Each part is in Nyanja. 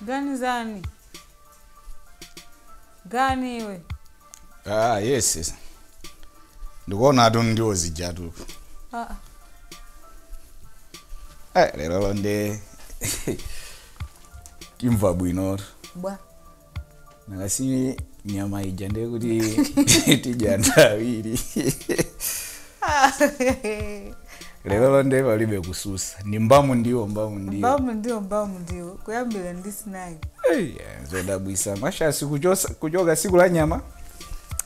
ganizani gani iwe ah yes yes ndikuona atu ndiwo zijatu Ah, ah. eh lero nde timva bwino bwa nakasi nyama ija ndiye kuti tidya anthu awiri lerolo nde palibe kususa ni mbamu ndiwo mbamu ndiwo kuyambira ndi sinayi Ei, eh, zodabwisa mashasi kuchosa- kuchoka siku la nyama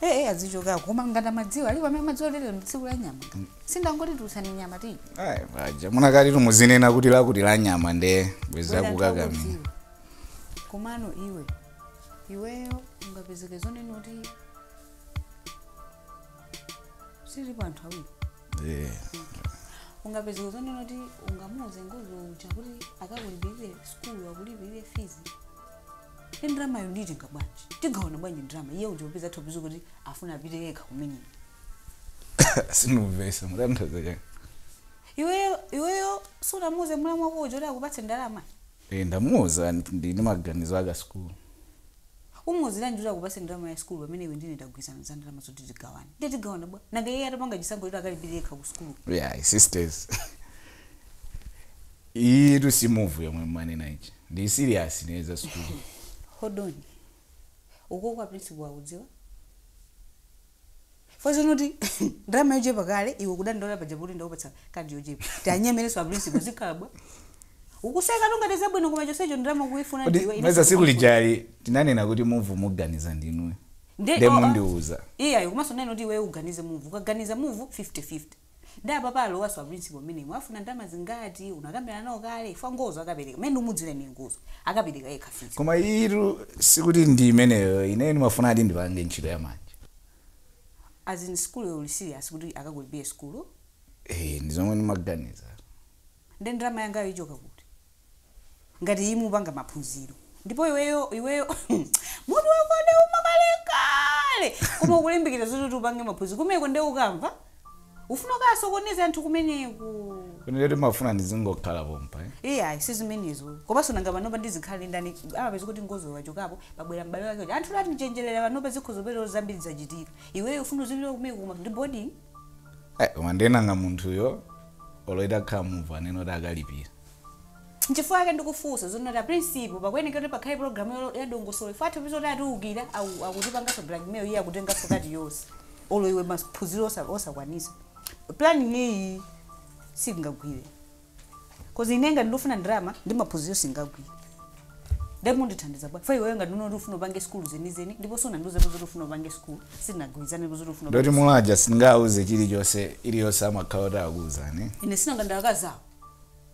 ee azichokako koma ngati amadziwa alipo amene amadziwa lero ndi tsiku la nyama sindangoti tiusani nyama tidye Ai, paja munakati tumuzinena kuti lakuti la nyama nde bweza akukakamira komano iwe iweyo ungapezeke zonena kuti sili pa anthu awiri Eh, ungapezeka zonena kuti ungamuuze ngozo uja kuti akakulipirire skulu akulipirire fees ndi ndalamayo nditenga bwanji tigawana bwanji ndalama iye uja upeza thopizo kuti afuna apite yekha kumene sindimvesa mutanthauza chani iweyo iweyo sunamuuze mulamu wako uja kuti akupatse ndalama Eeh ndamuuza ndili ndi maganizo a ka school. Umuuziranji kuti akupatse ndalama ya school pamene iwe ndi ine tagwirizana za ndalama zoti tigawane? Ndiye tigawana bwa? Nanga iyeyo atapanga chisankho choti akalipire yekha ku sukuluko? Iyayi sisters iyitu si move yomwe mumanena ija. Ndili serious ine za sukulu. Hold on. Ukoko a principal akudziwa? Chifukwa zonena kuti ndalama yochepa kale iwe ukudandaula paja poti ndakupatsa kati yochepa. Tianyemerenso a principal zikhala bwa. Ukusekatu ngati zabwino koma chonsecho ndalama ukuifuna Kodi ndiwe ine mesa siku sindikufuna. lijali tinanena kuti move muganiza ndinuyo. Nde Nde oh, ah, mundiuza. Iyayo komanso ndinena kuti iweyo uganize move. Ukaganiza move 50-50. Nde apapa alowaso a principal mmenemo afuna ndalama zingati unakambirana nawo kale chifukwa ngozo akapereka mmene ndimudziwira ine ngozo akapereka yekha fees. Koma iyitu sikuti ndi imeneyo ineyo ndimafunadi ndipange ntchito ya manja. As in school yo uli serious kuti akakulipire school? Eeh ndizomwe ndimaganiza. Nde ndalama yangayo ichoka kuti? ngati iyi mupanga maphunziro ndipo iweyo iweyo mutu wako ndi wouma kalekale koma ukulimbikira zoti kuti upange maphunziro kumeko nde ukamva ufuna ukasokoneze anthu kumeneko kunena kuti mumafuna ndizingokhala pompa eh? iyayi sizimenezo komanso nanga panopa ndizikhala ndi ndani amapeza kuti ngozo wachokapo pabwera m'bale wake uja anthu atichenjerera panopa zikhoza kupeza kuti zambiri zachitika iweyo ufuna uzilira kumeko koma ndi boarding Eh, koma nde nanga munthuyo olo itakhala move anene kuti akalipira nchifukwa yake ndikufunsa zonena kuti a principal pakuyenekera kuti pakhale program yo- ya dongosolo chifukwa atha kupeza kuti atiukira aku- akutipanganso blackmail iye akutenganso kati yonse olo iwe maphunziro osa- osakwanisa planning iyi singagwire Cause ine ngati ndifuna ndalama ndi maphunziro sizingagwire. Nde mundithandiza bwa? Fai wewe ngati unati ufuna upange school zenizeni ndipo sunandiuze kuti ufuna upange school sitinagwirizane kuti ufuna. Ndoti mulaja singauze chilichonse iliyonse amakhala kuti akuuzani. Ine si nanga nda akazawo.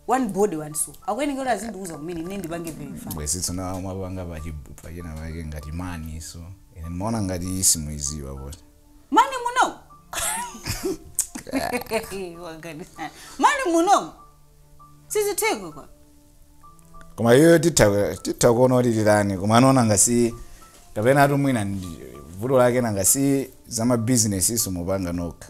One body one soul. Akuyeneka kuti azindiuza kumene ine ndipange verify. Bwezi tsona amapanga pa china pake ngati mani so. Ine ndimaona ngati isimuiziwa bwezi. mani muno Wagani. mani muno sizitheko kwa koma iyoyo titha titha kuona kuti titani koma amaona ngati kapena ati mwina ndi- vuto lake nanga si za mabizinesizo mupanga nokha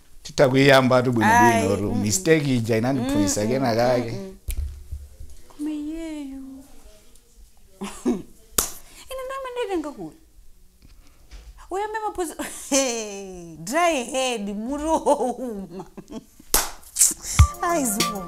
titha kuiyambatu bwinobwino tu mistake ija inandiphunzitsa kena kake koma iyeyo ine ndimamutenga kuti uyambe maphunzi Hey, dry head mutu wouma aizikoma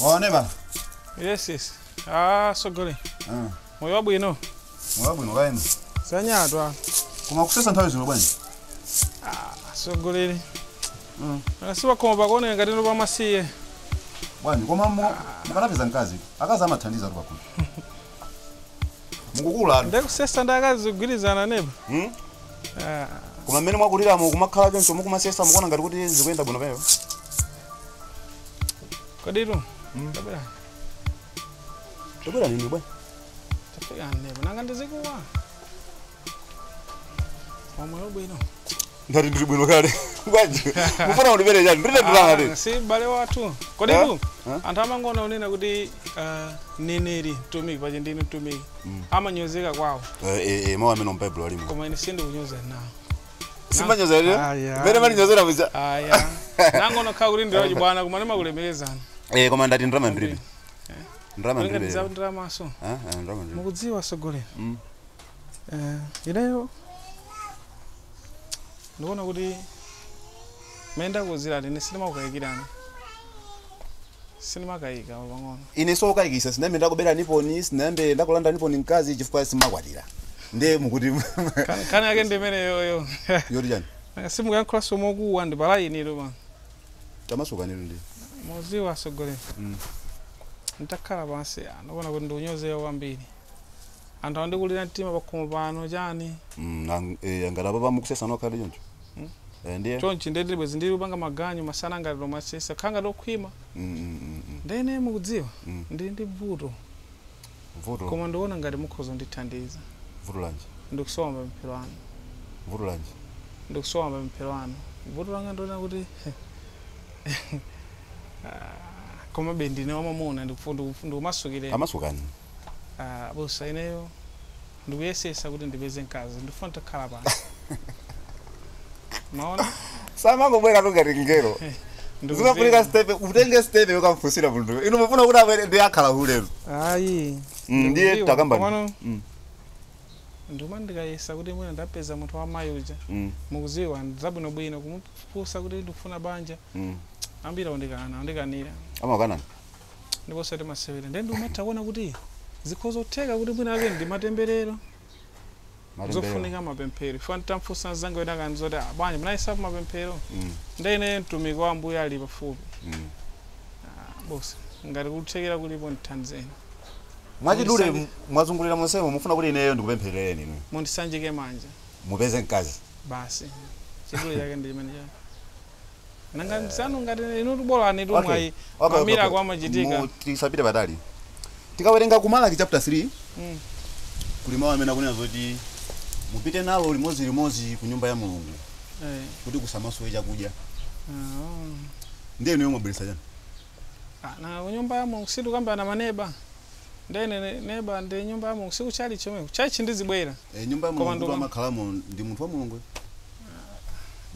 Wawa neba. Yes, yes. Atsogole. Mm. Moyo wabwino. Moyo wabwino kaya inu. Sanyatwa. Koma kusesa nthawi zino bwanji. Atsogoleri. Mm. Anasiwa koma pakuoneka ngati ndi pamasiye. Bwana, koma mukanapeza mkazi. Akazi amathandizatu akulu. Mukukula. Nde kusesa nda akazi kugwirizana neba. Mm. Ah. Koma mmene mwakuliramo kumakhala choncho nkumasesa mukuona ngati kuti zikuyenda bwino pamenepo. koditu tabwera Tabwerani ndi bwanji? tafika neba nanga ndizikuwa Amoyo bwino Ndati ndiri bwino kale. Bwanji. Mufuna kundibere chani? Ndilibe ndalama ndi. Ah, si bale wathu koditu Eh? anthu amanena kunena kuti ah, mneneri mtumiki paja ndine mtumiki amanyozeka kwawo Eh eh eh mawu amenewo mu Bible alimo. koma ine sindikunyozani nawo simumanyoza lero Aya. mmene mumandinyozera muja aya nangonokhala kuti ndi wachibwana koma ndimakulemekezani eh koma ndati ndalama ndiribe ndalama ndiribe kulinganiza lero. ndalamanso Ah, ah, ndalama ndiribe mukudziwa atsogoleri Mm. Eh, ineyo ndikuona kuti mmene ndakuuzirani ine sindimakukayikirani Sindimakaika olo pang'ono. Ine siwokayikisa sinayambe ndakuberaniponi sinayambe ndakulandaniponi mkazi chifukwa simumakwatira nde mukuti Kan- Kani yake ndi imeneyoyo. yoti chiyani Nanga simukuyankhulanso mokuwa ndi palaini lero pano. tamasukanitu ndi Mudziwa atsogoleri. Nditakhala pansi ah, ndikuona kuti ndikunyozeka kwambiri. Anthu akundikulira mtima pakhomo pano chiyani. Mm, ang- eh, ngati apapa mukusesa nokha ndi choncho mm. Eh, ndiye chonchi ndiye bwezi ndili kupanga maganyu masana ngati tomasesa kukhala ngati okhwima mm, mm, mm, mm. ndiye ine mukudziwa Mm. ndili ndi vuto vuto koma ndiona ngati mukhoza kundithandiza vuto lanji ndikusowa mapemphero anu vuto lanji ndikusowa mapemphero anu vuto langa ndiona kuti Ah, komabe ndine wamamuna ndikufu- ndikufu- ndikumasukireni amasukani Abusa ineyo ndikuyesesa kuti ndipeze mkazi ndifuna titakhala pano maona samangobweratu ngati mngelo zimafunika stepe utenge stepe yokamfunsira munthu inu mufuna kuti abwere ndi akhala hulero ayi Mm, ndiye ndikudziwa. takamba ndi- Komano Mm, ndikumati ndikayesa kuti mwina ndapeza munthu wa mayi uja mm, mukuziwana bwinobwino kumufunsa kuti ndikufuna banja mm. ambiri akundikana akundikanira amakukanani ndipo osati masewera ndiye ndimatha kuona kuti zikhoza kutheka kuti mwinamwake ndi matemberero Matembelero. zofunika mapemphero ine nditamfunsa mzanga wina akuti zoti "Ah, bwanji munayesako mapemphero Mm, ndiye ine mtumiki wa ambuye ali pafupi mm. abusa ngati kuthekera kulipo ndithandizeni mwachidule Mundisanje. mwazungulira monsemo mufuna kuti ineyo ndikupempherereni inu mundisanjike manja mupeze mkazi basi chidule chake ndi chimenecho nanga Eh. msanu ngati inu tubolani tu Okay. mwayi Okay, okay, madzi amira okay. zimachitika Mu- tisapite patali tikawerenga ku malaki chapter 3 Mm. kuli mawu amene akunena zoti mupite nalo limodzi limodzi ku nyumba ya mulungu Eh, kuti kusamasowe chakudya ah. ndiye inuyo mwabweretsa chani Ah, na nyumba ya mulungu situkamba na maneba ndiye ne- neba ndi nyumba ya mulungu sikuchalichi chomwe kuchalichi ndizibwera Eh, nyumba ya Koma mulungu nduma- amakhalamo ndi munthu wa mulungu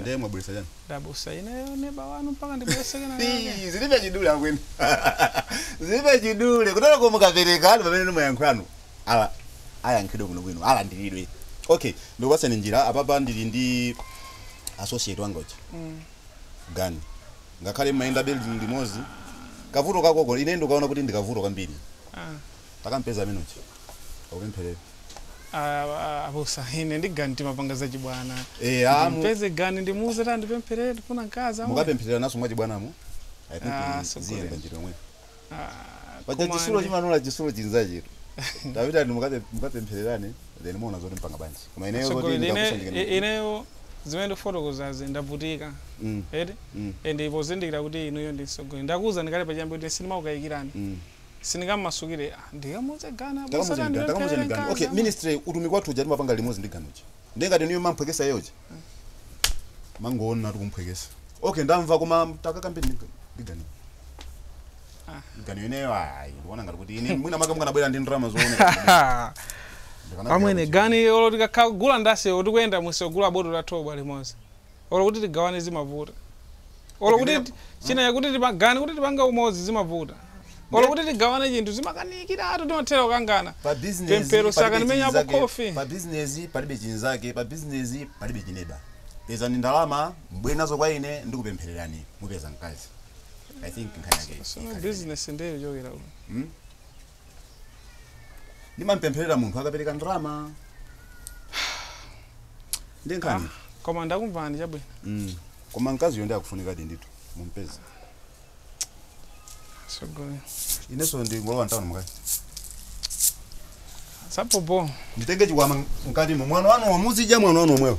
ndiye mwabweresa chani abusa ineyo neba wanu mpaka ndibweretse kenakake zilibe chidule amwene zilibe chidule kutero koma mukapereka ndi pamene mayankho anu ali ayankhidwe kuno bwino alandiridwe okay ndikupasani njira apapa ndili ndi associate wangachi gani Ngakhale mmayenda building limodzi kavuto kakoko ine ndikaona kuti ndi kavuto kwambiri. Takampeze amene uja akupempherere. Abusa ine ndi Gani timapanga zachibwana. Ndimpeze Gani ndimuuze kuti andipempherere ndifuna mkazi amwene. Mukapemphereranaso mwachibwanamo I think ziyenda njira yomweyo. Ah, paja koma chitsulo ndi- chimanola chitsulo chinzachetu tapitani mukape- mukapemphererane then muona zoti mupanga bwanji koma ineyo zoti Atsogoleri, ine- ndikakusanjikeni i- ineyo zimene ndifotokozazi ndavutika Mm, eti mm, and pozindikira kuti inuyo ndi mtsogoleri ndakuwuzani kale pachiyambi kuti sindimakukayikirani mm. sindingammasukire ah, ndikamuuze gani Ndikamuuze Gani, ndikamuuze Gani. okay ministry utumiki wathu uja timapanga limodzi ndi ganiyo ndiye ngati inuyo mumamphwekesa iye uja mangoona tikumphwekesa okay ndamva koma takakambe ndi ganiyo ineyo ayi ndikuona ngati kuti ine mwina maka mukanabwera ndi ndalama zooneka amwene ganiyo olo tikakagula ndase tikuyenda musogula botolo la thobwa limodzi Olo kuti tigawane zimavuta. Olo kuti china chake kuti tipangane kuti tipange umodzi zimavuta. Olo kuti tigawane chinthu zimakanikiratu timathera kukangana. Pemphero sakanimenya apo khofi. pa business palibe chinzake pa business palibe chineba pezani ndalama mbwere nazo kwa ine ndikupemphererani mupeza mkazi i think nkhani yake ikhale business ndiye yochokera uko. Hmm? ndimampempherera munthu akapereka ndalama ndi nkhani koma ndakumvani chabwino koma mkaziyo ndi akufunika ndithu mumpeze sogolo inenso ndingolowa mtawuni mkazi sapopo nditenge chikwama mkatimo mwana wanu wamuzija mwana wanu womweyo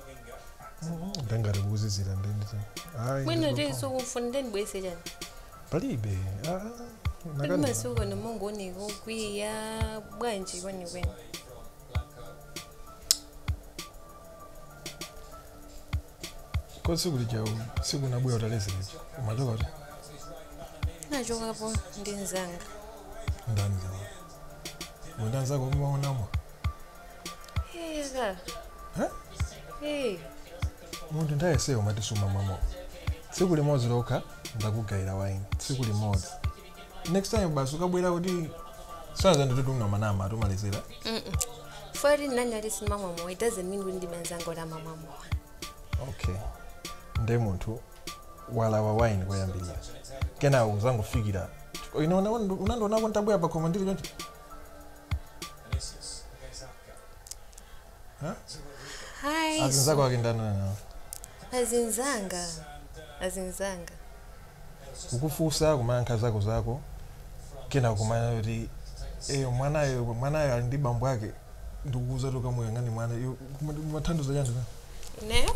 ndangati kuzizira ndendisa ayi mwina ndizopanga. tinso kumfuna nde ndibweze chani palibe ah, ah, kuti nakani. masiku pano mongooneka okwiya bwanji kwenikweni ka tsiku lija tsiku unabwera utaledzera umachoka kuti nachokapo ndi mzanga ndani ndi anzako umamwa mowa Hey, Aga. Huh? Hey. munthu nthawi yonseyo umati sumamwa mowa tsiku limodzi lokha ndakugayira waini tsiku limodzi next time basi ukabwera kutisanza nditotungwa manama atumalizira Father nawonso samamwa mowa. It doesn't mean windi benzango la mama mwa. okay nde munthu walawa waini koyambirira kenawo uzangofikira unandionako ntabwera pakhomo ndili choncho Hi. azinzako ake ndani Azinzanga. Azinzanga. ukufusa kumayankha zako zako kena kumanena kuti eyo mwanayo mwanayo ali ndi bambo ake ndikukuuza kuti ukamuyang'ane mwana kumatanthauza chani Ineyo?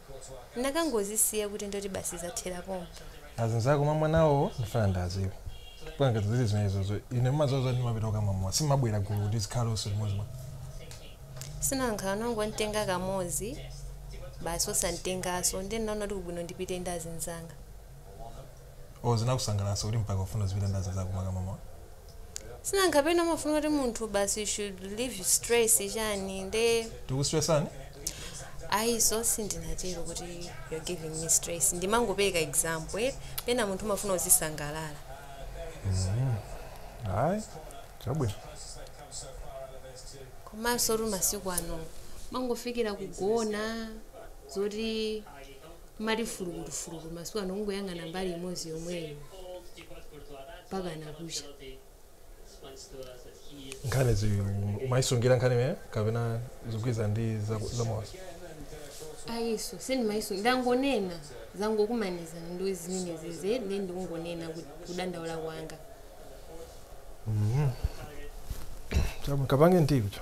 Ndakangozisiya kuti ndoti basi zathera pompa. Azinzako umamwa nawowo ndifuna ndiaziwe. Chifukwa ngati zili zimenezozo ine mumadziwa zoti ndimapita kukamwa mowa simabwera gulu kuti tizikhala tonse limodzi bwa? Si nanga unangontenga kamodzi basi osantengaso nde ndinaona kuti nkwabwino ndipite ndi azinzanga. Oh, zinakusangalatsa kuti mpaka ufuna uzipita ndi azinzako kumakamwa mowa. Sinanga kapena umafuna kuti munthu basi should relieve stress chani nde. Tikustressani? Ayi so sindinatero kuti you're giving me stress ndimangopeleka example eti pena munthu umafuna uzisangalala. Mm. Ayi, chabwino. Komansotu masiku ano mumangofikira kugona zoti. mumati fulukutu-fulukutu masiku ano kungoyang'ana mbali imodzi yomweyo mpakana kucha nkhani mumayisungira nkhani imene kapena zikugwirizana ndi za- zamoyo ayinso sindimayisu ndangonena zangokumaniza ndo zimene zizi nde ndikungonena kuti kudandaula kwanga Chabwi- kapange ndicho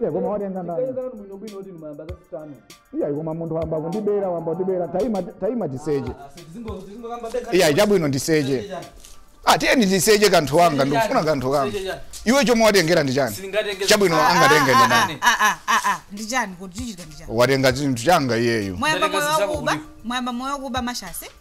Iya, koma watenga ndani? Tikayenzana ndi bwino bwino kuti mwayamba za sitano. Iya, koma munthu wayamba kundibera wayamba kundibera taima taima tiseche. Iya, chabwino ndiseche. Ah, tiyeni tiseche kanthu kanga ndikufuna kanthu kanga. Iwe chomwe watengera ndi chani? Chabwino angatenge ndi ndani? Ah, ah, ah, ah, ndi chani kuti chikuchitika ndi chani Watenga chinthu changa iyeyo. mwayamba Ndaleka moyo zisako wakuba kuti- mwayamba moyo wakuba mashasi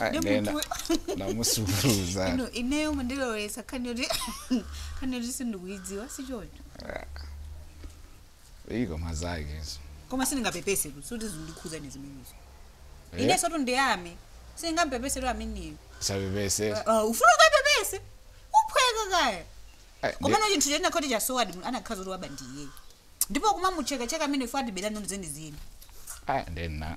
Ah, Ndi ndena munthu- namusuluza ino ineyo mundilowesa nkhani yoti nkhani yoti sindikuyidziwa sichoncho iko mazake izo koma sindingapepese kuti sikuti zikundikhudza ine zimenezo Eh, inensotu ndiyambe sindingapepesetu ameneyo sapepese ufuna ukapepese uphweka kaya Ah, ndi- komano chinthu chinakhoti chasowadi munthu anakhazika kuti waba ndi iye ndipo kumamuchekacheka amene ife watibera noni zenizeni ah, ndena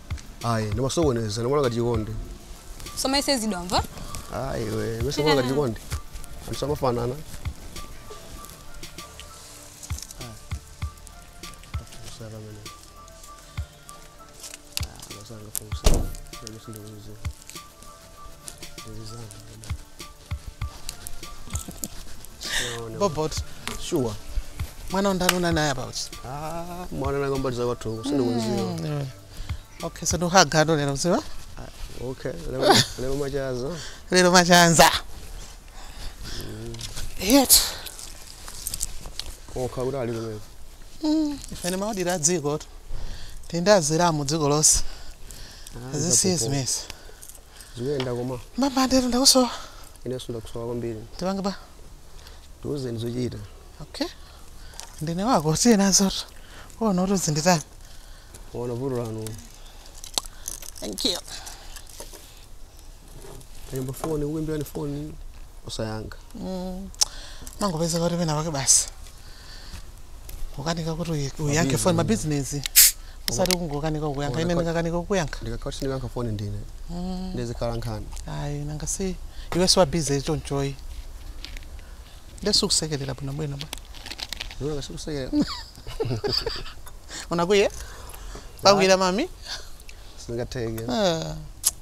ayi ndimasokoneza ndikuona ngati chikondi simayesezedwa mwamva ayi iwe mesa kuona ngati chikondi anthu sitimafanana bobot sure mwana undani unani naye about Ah, mwana nanga mbali za kwathu uko sindikudziwa okay so ndohagano lero mudziwa okay leo leo machazo lero machanza yetu koka kuti ali kumene ife timauzira dziko titandazira mu dziko lonse zisiye zimenezi zikuyenda koma mbambandetu ndakusowa inenso ndakusowa kwambiri ndipange ba tiuzeni zochita okay ndine wako usiye nazotu uona kuti uzinditani uona vuto lanu thank you Akayimba foni ukuimbirani foni osayankha mm. mangopezeka kuti pena pake basi ukanika kuti uyi- uyankhe foni mabizinesi usati kungokanika kuyankha ine ndingakanika kukuyankha ndikakhala kuti ndikuyankha foni ndiye izikhala nkhani ayi nanga si iwe si wa bize chonchoyi ndizikusekerera bwino bwino ba iwe ndizikuseke unakuye kukwiya mami sizingatheke Ah.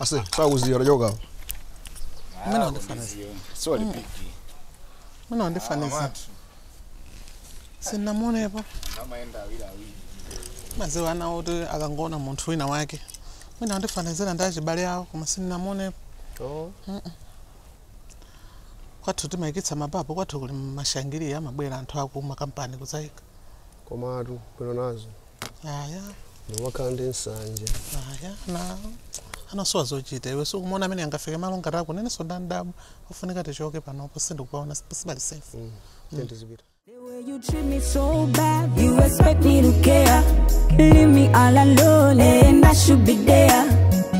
Ase, sakuziya utachoka apa. Mwina wandifanizira. Sorry, big. Mwina wandifanizira. Sinamuonepo. Amaenda awira awiri. Mumaziwa anawo oti akangoona munthu wina wake. Mwina wandifanizira ndi achibale awo koma sinamuonepo. Oh. Kwathu timayikitsa mababu kwathu kuli mashangiri amabwera anthu aku makampani kuzaika. Komatu bwino nazo. aya ndimakhala ndi nsanje aya ndi ana osowa zochita iwe sukumuona amene angafike malo ngati ako inenso ndandabwa kufunika tichoke panopo sindikuonapo sipali safe Mm, tiye tizipita The way you treat me so bad, you expect me to care. Leave me all alone, and I should be there.